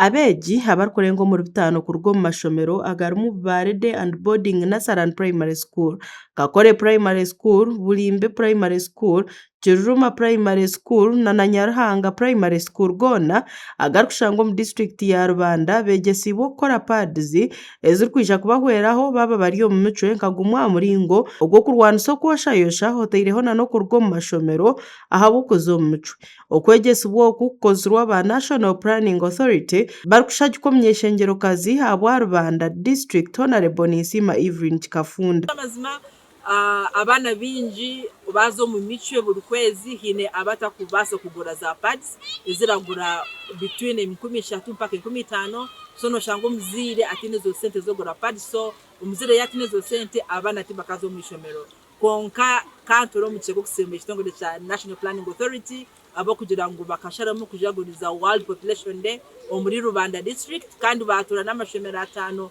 Abeegi abarikurenga omuri bitaano kuruga omu mashomero agarimu Bubaarede and Boarding Nursery and Primary School, Kakore Primary School, Bulimbe Primary School, Kiruruma Primary School nana Nyaruhanga Primary School goona agarikushangwa omu disiturikiti ya Rubanda beegyesiibwe kukora pads. ezirikwija kubahweraho baaba bari omu micwe nka gumwe aha muringo ogw'okurwanisa okwoshaayosha otaireho na n'okuruga omu mashomero ahabw'okuza omu micwe. Okwegyesibwa oku kukozirwe aba National Planning Authority barikushagikwa omunyeeshengyerokazi ahabwa rubanda, District Honourable Ninsiima Evelyn Kikafunda. Amazima Abaana baingi baaza omu micwe buri kwezi haine abatakubaasa kugura za pads eziragura between enkumi ishatu mpaka enkumi itaano so noshanga omuzaire ataine ezo sente z'okugura pads so omuzaire yataine ezo sente abaana tibakaza omu ishomero kwonka kanture omukye gw'okusiima ekitongore kya National Planning Authority ahabw'okugira ngu bakasharamu kujaguriza World Population Day omuri Rubanda District kandi baatora n'amashomero ataano.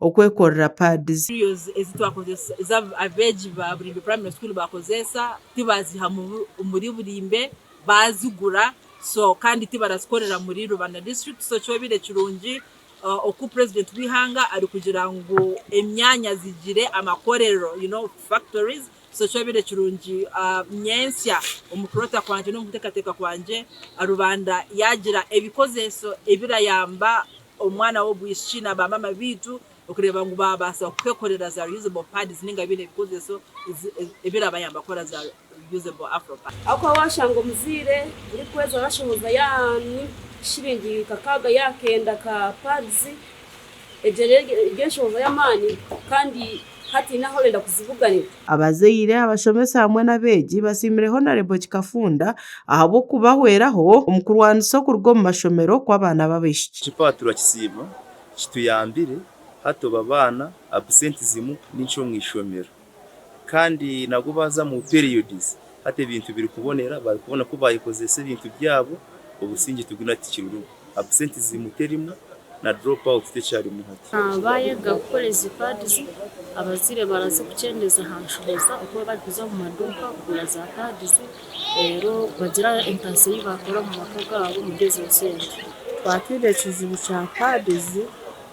okwekorera pads. Materials ezi twakozesa ezi abeegi ba Burimbe Primary School baakozeesa tibaaziiha omuri Burimbe baazigura so kandi tibarazikorera muri Rubanda District so kyobaire kirungi oku President w'eihanga arikugira ngu emyanya zigire amakorero you know factories so kyobaire kirungi nyentsya omu kuroota kwangye n'omu kuteekateeka kwangye Rubanda yaagira ebikozeeso ebirayamba omwana w'obwishiki na baamaama baitu okureeba ngu baabaasa kukwekorera za reusable pads nainga baine ebikozeso ebirabayamba kukora za reusable afro pads. Ahakuba waashanga omuzaire orikweza orashohoza yaanyu shiringi kakaaga yaakenda ka pads, egyo rero eri enshohoza y'amaani kandi hataine ahu orenda kuzibuganira. Abazaire, abashomesa hamwe n'abeegi basiimire Honarebo Kikafunda ahabw'okubahweraho omu kurwanisa okuruga omu mashomero kw'abaana b'abaishiki. Kipaaturwa Kisiibo kituyambire hati obu abaana absentizimu ni nkye omu ishomero kandi nabwo baaza mu periods Hati ebintu birikubonera bari kubona ku bayekozesa ebintu byabo obusingye tuguna tikirirumu absentism terimu na drop out tekyarimu hati. Baayega kukora ezi pads, abazaire barazikukyendeza aha nshoboza okuba barikuza omu maduuka kugura za pads reero bagira entaasya ei baakora omu maka gaabo omuri ezo sente. Twatwine ekizibu kya pads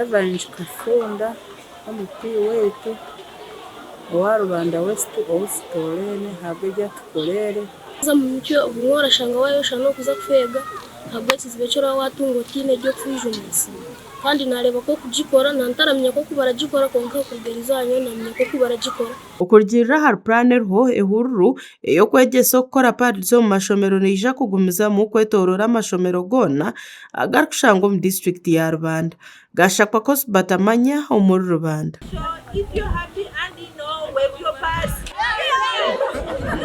Evans Kafunda MP waitu owa Rubanda West ou tutoreine ahabwa ebi atukoreire. Haza omu mutwe ogumwe orashanga wayosha n'okuza kufeega ahabw'ekizibu eki oraba watunga otaine egi okufwijumisa. Kandi nareeba ku okugikora na ntaramanya ku oku baragikora kwonka okuruga eriizooba nyowe namanya ku oku baragikora. Okurugiirira ahari puraani eriho, ehururu ey'okwegyesa okukora pads omu mashomero neija kugumizamu kwetooroora amashomero goona. agarikushangwa omu disiturikiti ya Rubanda, gaashakwa Coast Batamanya omuri Rubanda.